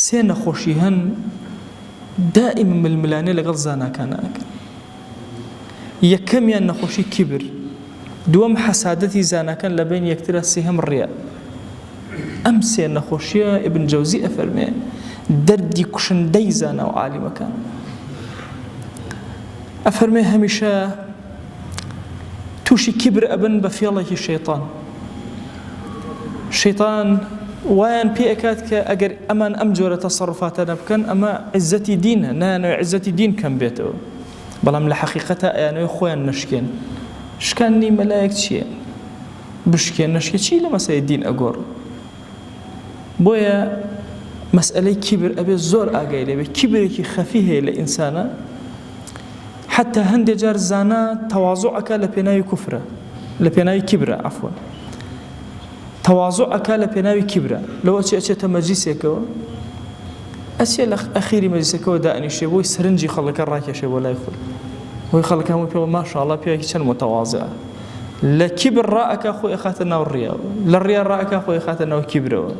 سێ نەخۆشی هەن دائیمە ململانێ لەگەڵ زاناکانە ئەکەن یەکەمیان نەخۆشی کیبر دووەم حەسادەتی زاناکان لە بین یەکترە سێهەم ڕیە ئەم سێ نەخۆشیە ئبن جەوزی ئەفەرمێ دەردی کوشندەی زانا و عالیمەکان ئەفەرمێ هەمیشە تووشی کیبر ئەبن بە فێڵێکی شەیتان شەیتان وایان پێ ئەکات کە ئەگەر ئەمان ئەم جۆرە تەسەڕفاتە نەبکەن ئەمە عزەتی دینە نایانەوە عزەتی دین کەم بێتەوە بەڵام لە حەقیقەتە ئەیانەوە خۆیان نشکێن شکاندنی مەلایەک چییە بشکێن نشکە چی لە مەسەی دین ئەگۆڕ بۆیە مەسئلەی کیبر ئەبێ زۆر ئاگای لەبێ کیبرێکی خەفی هەیە لە ئینسانە حەتتا هەندێ جار زانا تەوازوع ئەکا لە پێناوی کوفرە لە پێناوی کیبرە عەفوەن تەوازوع ئەکا لە پێناوی کیبرە لەو ئەچێ ئەچێتە مەجلیسێکەوە ئەچێ لە ئەخیری مەجلیسەکەەوە دانیشێ بۆی سەرنجی خەڵەکە ڕاکێشێ بۆ لای خۆی هۆی خەڵەکە هەموو پێوە ماشاءڵە پیاوێکی چەند متەوازە لە کیبر ڕائەکا خۆی ئەخاتە ناو ڕیا لە ڕیا ڕائەکا خۆی خاتە ناو کیبرەوە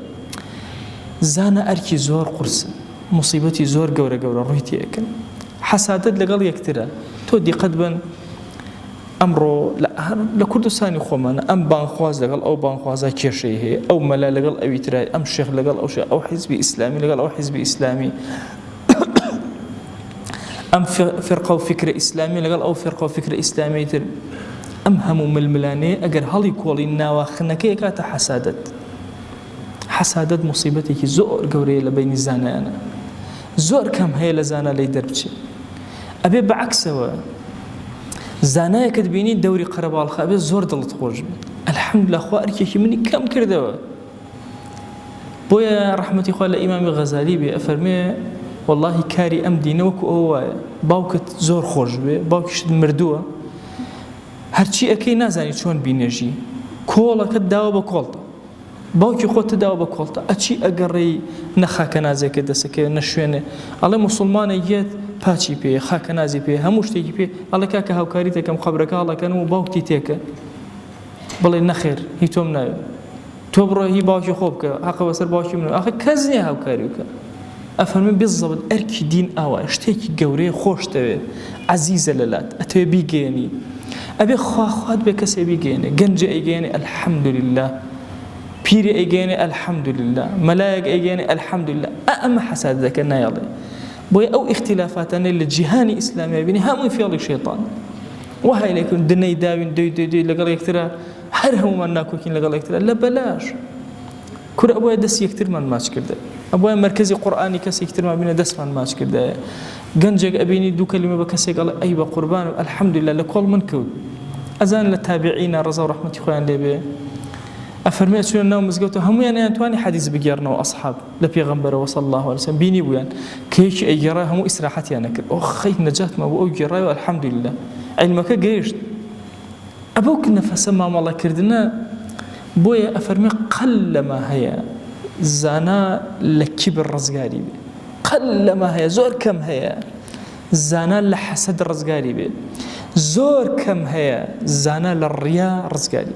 زانە ئەرکی زۆر قورسە موسیبەتی زۆر گەورە گەورە ڕووی تێکن حەسادەت لەگەڵ یەکترە تۆ دیقەت بن ئەمڕۆ لە کوردستانی خۆمانە ئەم بانخواز لەگەڵ ئەو بانخوازە کێشەی هەیە ئەو مەلا لەگەڵ ئەوی ترای ئەم شێخ لەگەڵ ئەو ئەو حیزبی ئیسلامی لەگەڵ ئەو حیزبی ئیسلامی ئەم فرقە و فکرە ئیسلامی لەگەڵ ئەو فرقە و فکرە ئیسلامی تر ئەم هەموو ململانەیە ئەگەر هەڵی کۆڵی ناواخنەکەی کاتە حەسادت حەسادەت موسیبەتێکی زۆر گەورەیە لە بەینی زانایانە زۆر کەم هەیە لە زانا لەی دەربچێ ئەبێ بەعکسەوە زانایەکت بینی دەوری قەرەباڵخە ئەبێ زۆر دڵت خۆش بێت ئەلحەمد لە خوا ئەرکێکی منی کەم کردەوە بۆیە ڕحمەتی خوا لە ئیمامی غەزالی بێ ئەفەرمێ واللهی کاری ئەم دینەوەکو ئەو وایە باوکت زۆر خۆش بێ باوکیشت مردووە هەرچی ئەەکەی نازانی چۆن بینێژی کۆڵەکەت داوە بە کۆڵتە باوکی خۆت داوە بە کۆڵتە ئەچی ئەگەڕێی نە خاکەنازێکت دەسەکەوێت نە شوێنێ ئەڵێ موسڵمانێک یەت پاچی پێ خاکەنازی پێ هەموو شتێکی پێ ئەڵێ کاکە هاوکاری دەکەم قەبرەکە هەڵەکەن و باوکتی تێکە بڵێ نەخێر هی تۆم ناوێت تۆ بڕۆ هی باوکی خۆ بکە هەقە بەسەر باوکی من ئەخە کەس نییە هاوکاری بکە ئەفەرموێ بزەبت ئەرکی دین ئاوایە شتێکی گەورەیە خۆشتەوێ عەزیزە لەلات ئەتەوێ بیگەیەنی ئەبێ خوا خوات بێ کەسێ بیگەیەنێ گەنجێ ئەیگەیەنێ الحمدللە پیرێ ئەیگەیەنێ الحمدللە مەلایەک ئەیگەیەنێ الحمدللە ئا ئەمە حەسادە دەکەن نایەڵێ بۆیە ئەو ئیختیلافاتانەی لە جیهانی ئیسلامیە بینی هەمووی فێڵی شێطان وهای لێکن دنەی داوین دوی دوی دوی لەگەڵ یەکترە هەر هەمومان ناکۆکین لەگەڵ یەکترە لە بەلاش کورە ئەبوایە دەست یەکترمان ماچ کردایە ئەبوایە مەرکەزی قورئانی کەسێکی ترمان بینە دەستمان ماچ کردایە گەنجێک ئەبینی دوو کەلیمە بە کەسێک ئەڵێ ئەی بە قوربان و الحمدلله لە کۆڵ من کەوت ئەزان لە تابعینە ڕەزا و ڕەحمەتی خۆیان لێبێ ئەفەرمێ چوە ناو مزگەوتە هەمویان ئەیانتوانی حەدیث بگێڕنەوە ئەصحاب لە پێغەمبەرەوە صلی الله عليه وسلم بینی بوویان کەیکی ئەیگێڕا هەموو ئیسراحەتیان نەکرد ئۆ خەی نەجاتمان بۆ ئەو گێڕای و الحمدلله علمەکە گەیشت ئەبو کنفسە مامەڵە کردنە بۆیە ئەفەرمێ قەلەما هەیە زانا لە کیبر ڕزگاری بێ قەلەما هەیە زۆر کەم هەیە زانا لە حەسەد ڕزگاری بێ زۆر کەم هەیە زانا لە ڕیا ڕزگاری